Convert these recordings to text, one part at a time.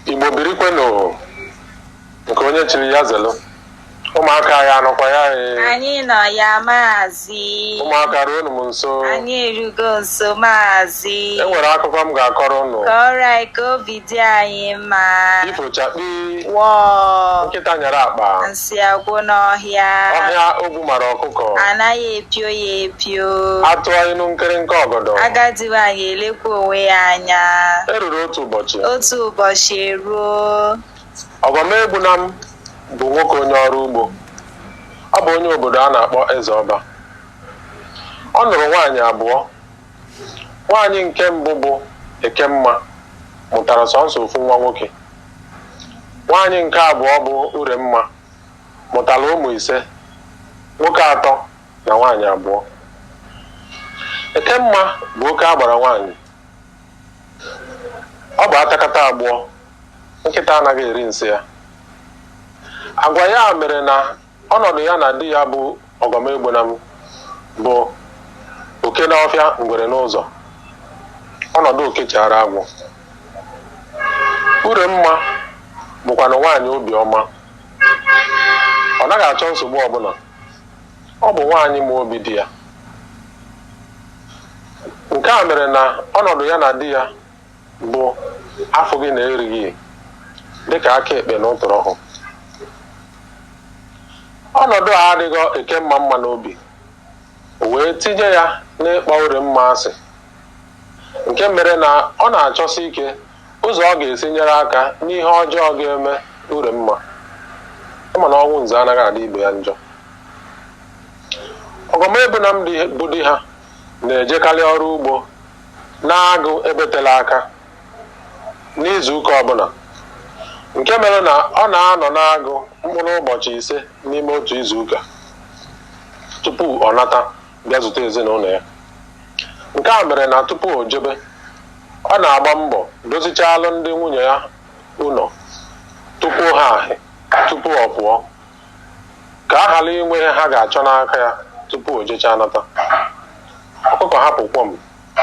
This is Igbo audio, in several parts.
igbo birikwenụ nke onye chiri ya zelu ụmụaka ya anọkwa ya ee. Anyị nọ ya maazị. ụmụaka ruonu m nso Anyị erugo nso maazị. e nwere akụkọ m ga-akọrọ ụnụ Kọrọ anyị ka obi dị anyị mma. ifochakpi Wọọ. nkịta nyere akpa Nsị agwụ n'ọhịa. ọhịa ogwu ogwu mara ọkụkọ anaghị epio ya epio a tụọ inu nkịrịnka ọgọdọ agadi nwaanyị elekwa onwe ya anya eruru otu ụbọchị otu ụbọchị eruo Ọgọmegbunam bụ nwoke onye ọrụ ugbo ọ bụ onye obodo a na-akpọ Ezeọba ọ nụrụ nwaanyị abụọ nwaanyị nke mbụ bụ ekemma mụtara sọnsọ ofu nwa nwoke nwaanyị nke abụọ bụ uremma mụtara ụmụ ise, nwoke atọ na nwaanyị abụọ. Ekemma bụ oke agbara nwaanyị. Ọ bụ atakata agbụọ, nkịta anaghị eri nsị ya. Agwa ya mere na ọnọdụ ya na di ya bụ Ọgọmegbunam bụ oke n'ọfịa ngwere n'ụzọ, ọnọdụ oke chaara agwọ. Uremma bụkwanụ nwaanyị obi ọma. Ọ naghị achọ nsogbu ọbụna. Ọ bụ nwaanyị ma obi di ya. Nke a mere na ọnọdụ ya na di ya bụ afụghị na erighị dịka aka ekpe na ụtụrụ ọhụ ọnọdụ a adịghị Ekemma mma n'obi wee tinye ya n'ịkpọ Uremma asị nke mere na ọ na-achọsi ike ụzọ ọ ga-esi nyere aka n'ihe ọjọọ ga-eme Uremma ị ma na ọnwụ nze anaghị adị ibe ya njọ Ọgọmegbunam bụ di ha na-ejekarị ọrụ ugbo n'agụ ebe tela aka n'izuụka ọbụna nke mere na ọ na-anọ n'agụ mkpụrụ ụbọchị ise n'ime otu izuụka tupu ọ nata bịa zute ezinụnọ ya nke a mere na tupu o jebe ọ na-agba mbọ dozichalụ ndị nwunye ya ụnọ tupu ha ahị tupu ọ pụọ ka a ghara inwe ihe ha ga-achọ n'aka ya tupu o jechaa nata ọkụkọ hapụ kwọm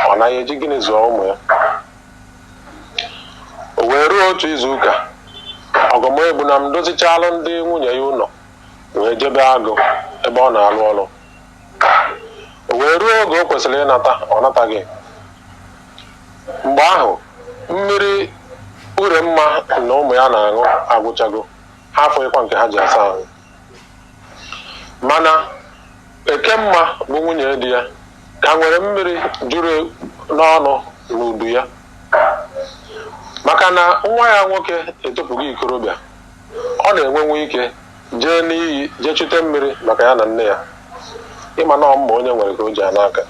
ọ naghị eji gịnị zụọ ụmụ ya o wee ruo otu izu ụka Ọgọmegbunam dozichalụ ndị nwunye ya ụnọ wee jebe agụ ebe ọ na-alụ ọrụ o wee ruo oge o kwesịrị ịnata ọ nataghị mgbe ahụ mmiri Uremma na ụmụ ya na-aṅụ agwụchago ha afụghịkwa nke ha ji asa ahụ mana ekemma bụ nwunye di ya ka nwere mmiri juru n'ọnụ n'udu ya maka na nwa ya nwoke etopụgo ikorobịa ọ na-enwenwu ike jee n'iyi jee chute mmiri maka ya na nne ya ị ma na ọ mma onye nwere ka o ji ana aka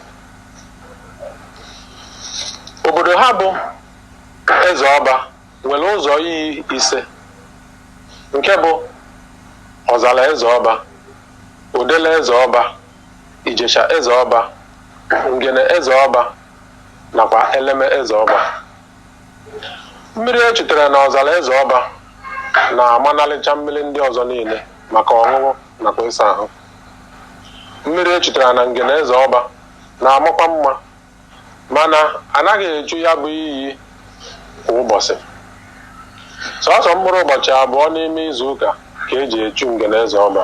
obodo ha bụ eze ọba nwere ụzọ iyi ise nke bụ ọzara eze ọba odele eze ọba ijesha eze ọba ngene eze ọba nakwa eleme eze ọba mmiri e chutere na ọzara eze ọba na-amanalịcha mmiri ndị ọzọ niile maka ọṅụṅụ nakwa ịsa ahụ mmiri e chutere na ngene eze ọba na-amakwa mma mana anaghị echu ya bụ iyi kwa ụbọchị sọsọ mkpụrụ ụbọchị abụọ n'ime izu ụka ka eji echu ngene eze ọba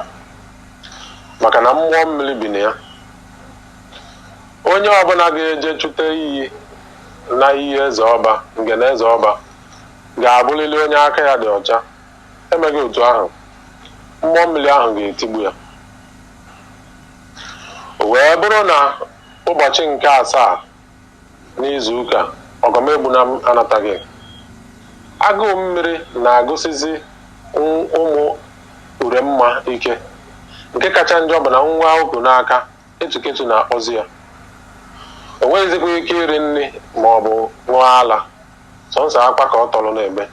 maka na mmụọ mmiri bi na ya onye ọbụla ga-eje chute iyi na iyi eze ọba ngene eze ọba ga-abụlịlị onye aka ya dị ọcha emeghị otu ahụ mmụọ mmiri ahụ ga-etigbu ya o wee bụrụ na ụbọchị nke asaa n'izu ụka ọgọmegbunam anataghị agụụ mmiri na-agụsizi ụm- ụmụ uremma ike nke kacha njọ bụ na nwa o ku n'aka etuketu na-akpọzi ya o nweghịzikwa ike iri nri ma ọ bụ ṅụọ ala sọnsọ akwa ka ọ tọrọ na-ebe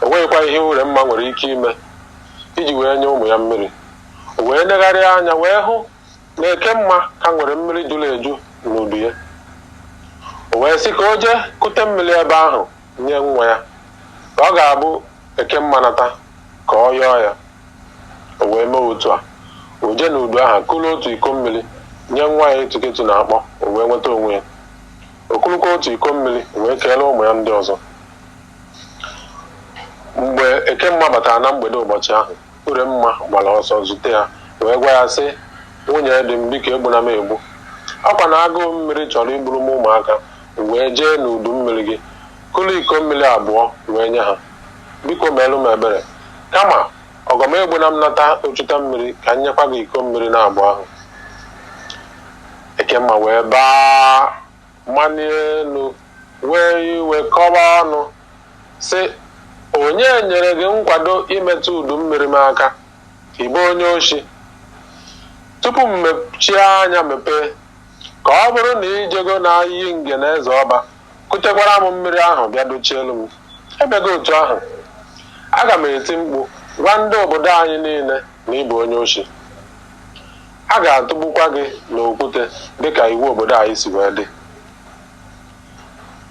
o nweghịkwa ihe uremma nwere ike ime iji wee nye ụmụ ya mmiri o wee negharịa anya wee hụ na ekemma ka nwere mmiri juru eju n'udu ya o wee sị ka o jee kute mmiri ebe ahụ nye nwa ya ka ọ ga-abụ ekemma nata ka ọ yọọ ya o wee mee otu a o jee n'udu ahụ kuru otu iko mmiri nye nwa ya etuketu na-akpọ o wee nweta onwe ya o kurukwa otu iko mmiri wee keere ụmụ ya ndị ọzọ mgbe ekemma batara na mgbede ụbọchị ahụ uremma gbara ọsọ zute ya wee gwa ya sị nwunye di m biko egbuna m egbu ọkwa na agụụ mmiri chọrọ igburu m ụmụaka m wee jee n'udu mmiri gị kulu iko mmiri abụọ wee nye ha biko meelụ m ebere kama ọgọmegbunam nata o chuta mmiri ka m nyekwa gị iko mmiri na abụọ ahụ ekemma wee baa manie elu wee iwe kọba ọnụ sị onye nyere gị nkwado imetụ udu mmiri m aka ịbụ onye oshi tupu m mechie anya mepee ka ọ bụrụ na ijego na iyi ngene eze ọba kutekwara m mmiri ahụ bịa dochielu m emeghị otu ahụ aga m eti mkpu gwa ndị obodo anyị niile na ịbụ onye oshi a ga-atụgbukwa gị n'okwute dịka iwu obodo anyị si wee dị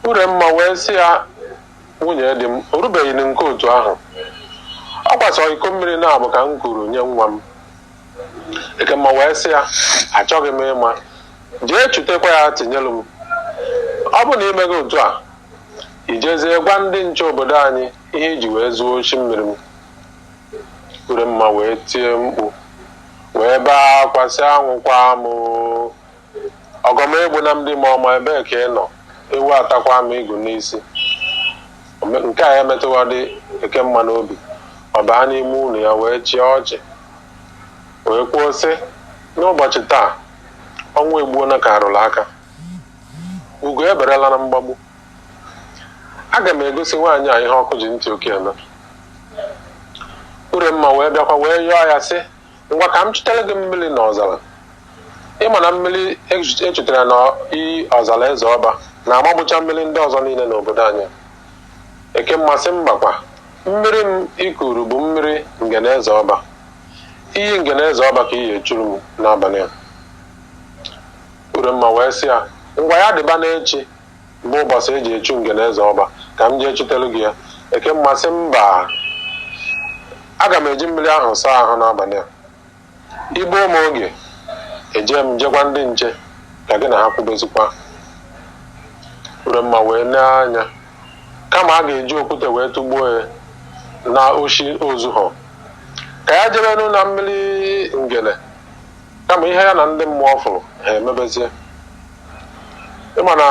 uremma wee sị ya nwunye di m o rubeghị na nke otu ahụ ọ kwa sọ iko mmiri naabọ ka m kuru nye nwa m ekemma wee sị ya achọghị m ịma jee chutekwa ya tinyelu m ọ bụ na imeghị otu a ijezie gwa ndị nche obodo anyị ihe iji wee zuo oshi mmiri m uremma wee tie mkpu wee bee akwa sị anwụkwa m ọgọm egbuna m di m ọma ebee ka ị nọ ewu atakwa m igu n'isi nke a emetụhọdị ekemma n'obi ọ baa n'ime ụlọ ya wee chịa ọchị wee kwuo sị n'ụbọchị taa ọnwa egbuona ka arụrụ aka ugo eberela na mgbagbu aga m egosi nwaanyị a ihe ọkụ ji ntị oke eme Uremma wee bịakwa wee yọọ ya sị ngwa ka m chutere gị mmiri na ọzara ịma na mmiri echutere na iyi ọzara eze ọba na-amagbucha mmiri ndị ọzọ niile n'obodo anyị Ekemma sị mbakwa mmiri m i kuru bụ mmiri ngene eze ọba iyi ngene eze ọba ka ị ya-echuru m n'abalị a Uremma wee sị ya ngwa ya dịba n'echi bụ ụbọchị e ji echu ngene eze ọba, ka m jee chutelu gị ya. Ekemma sị, Mba! Aga m eji mmiri ahụ saa ahụ n'abalị a. I gbuo m oge, ejee m je gwa ndị nche ka gị na ha kwubezikwa. Uremma wee nee anya. Kama a ga-eji okwute wee tụgbuo ya na oshi o zuhọ, ka ya jebenu na mmiri ngene, kama ihe ya na ndị mmụọ fụrụ, ha emebezie. ịma na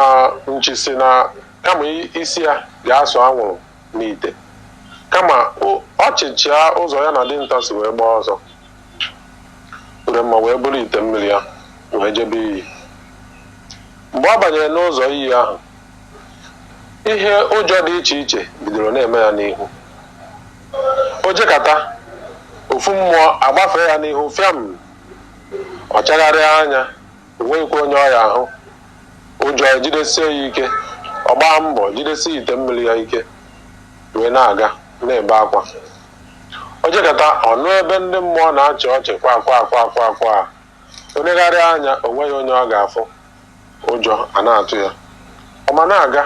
nchi sị na kama i- isi ya ga-asụ anwụrụ n'ite kama o- ọ chịchịa ụzọ ya na dinta si wee gbaa ọsọ uremma wee buru ite mmiri ya wee jebe iyi mgbe ọ banyere n'ụzọ iyi ahụ ihe ụjọ dị iche iche bidoro na-eme ya n'ihu o jekata ofu mmụọ agbafee ya n'ihu fịam ọ chagharịa anya O nweghịkwa onye ọ ya-ahụ. Ụjọ ejidesie ya ike. Ọ gbaa mbọ jidesie ite mmiri ya ike wee na-aga na-ebe akwa. O jekata ọ nụ ebe ndị mmụọ na-achị ọchị kwa kwa kwa kwa kwa. O negharịa anya o nweghị onye ọ ga-afụ. Ụjọ ana-atụ ya. Ọ ma na-aga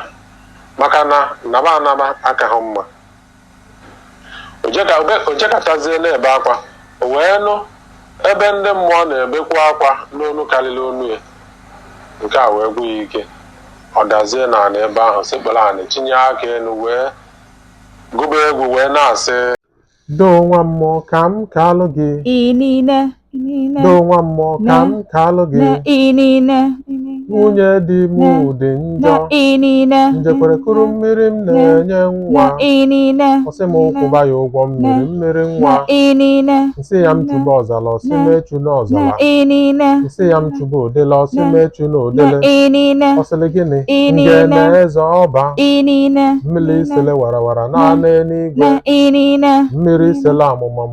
maka na naba anaba akaghị mma. O jekatazie na-ebe akwa, o wee nụ ebe ndị mmụọ na-ebekwa akwa n'onu karịrị onu ya. Nke a wee gwụ ya ike. Ọ dazie n'ala ebe ahụ, sekpuru anị, chinye aka enu wee gụba egwu wee na-asị, Doo nwa mmụọ ka m kaalụ gị. Inine. nine do nwa mmụọ ka m kaalụ gị inine nwunye di m dị njọ inine njekwere kuru mmiri m na-enye nwa inine ọ sị m kwụba ya ụgwọ mmiri mmiri nwa inine nsị ya m chuba ọzala ọ sị m echuna ọzala inine nsị ya m chuba odele ọ sị m echuna odele inine ọ sịlị gịnị inine ngene eze ọba inine mmiri isele warawara n'anị na n'igwe inine mmiri isele amụma m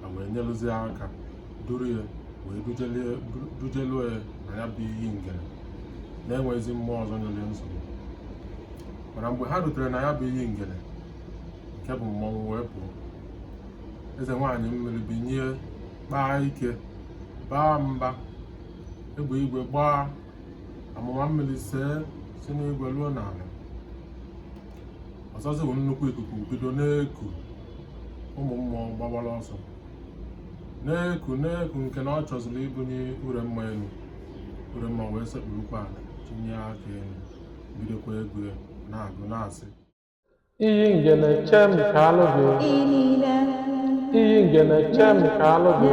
ha wee nyelụzie aka duru ya wee dujeluo ya na ya bụ iyi ngene na-enwezi mmụọ ọzọ nyere nsogbu mana mgbe ha rutere na ya bụ iyi ngene nke bụ mmọnwụ wee pụọ eze nwaanyị mmiri binye kpaa ike baa mba egbe igwe gbaa amụma mmiri see si n'igwe ruo n'ala ọzọzị bụ nnukwu ikuku bido na-eku ụmụ mmụọ gbawara ọsọ na-eku na-eku nke na ọ chọziri ibunye Uremma enu Uremma wee sekpurukwa ala chinye aka elu bidokwa egwu ya na-agụ na-asị iyi ngene che m kaalụ gị iyi ngene che m kaalụ gị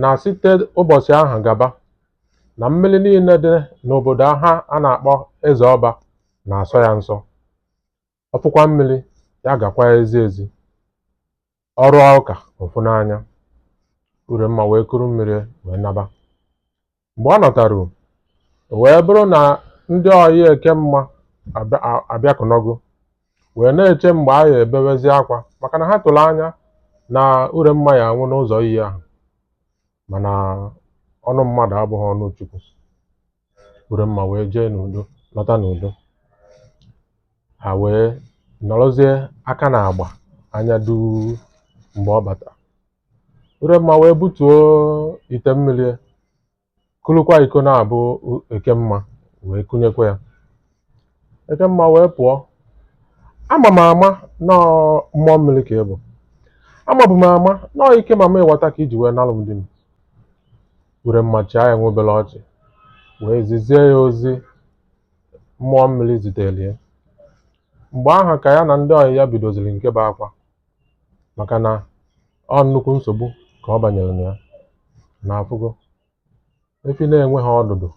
na site ụbọchị ahụ gaba na mmiri niile dị n'obodo ha a na-akpọ eze ọba na-asọ ya nsọ ọ fụkwa mmiri ya gakwaa ezi ezi ọ rụọ ụka ọ fụ n'anya Uremma wee kuru mmiri wee naba Mgbe ọ nọtaru, ọ wee bụrụ na ndị ọyị Ekemma abịakụnọgo wee na-eche mgbe a ya-ebewezi akwa maka na ha tụrụ anya na Uremma ya-anwụ n'ụzọ iyi ahụ mana ọnụ mmadụ abụghị ọnụ Chukwu Uremma wee jee n'udo lọta n'udo ha wee nọrọzie aka n'agba anya duu mgbe ọ bata Uremma wee butuo ite mmiri kulukwa iko na-abụ Ekemma wee kunyekwa ya Ekemma wee pụọ ama m ama na ọ mmụọ mmiri ka ị bụ amabu m ama na ọ ike mamịwata ka i ji wee nalụ m di m Uremma chịa ya nwa obere ọchị wee zizie ya ozi mmụọ mmiri zitere ya mgbe ahụ ka ya na ndị ọyị ya bidoziri nke bụ akwa maka na ọ nnukwu nsogbu ka ọ banyere na ya na afụgo efi na-enweghị ọdụdụ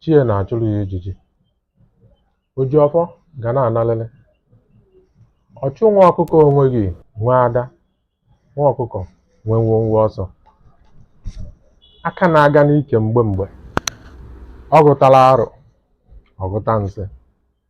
chi ya na-achụrụ ya ijiji oji ọfọ ga-ana analịrị ọchụ nwa ọkụkọ o nweghị nwe ada nwa ọkụkọ nwe nwọnwọ ọsọ aka na-aga n'ike mgbe mgbe ọ gụtara arụ ọ gụta nsị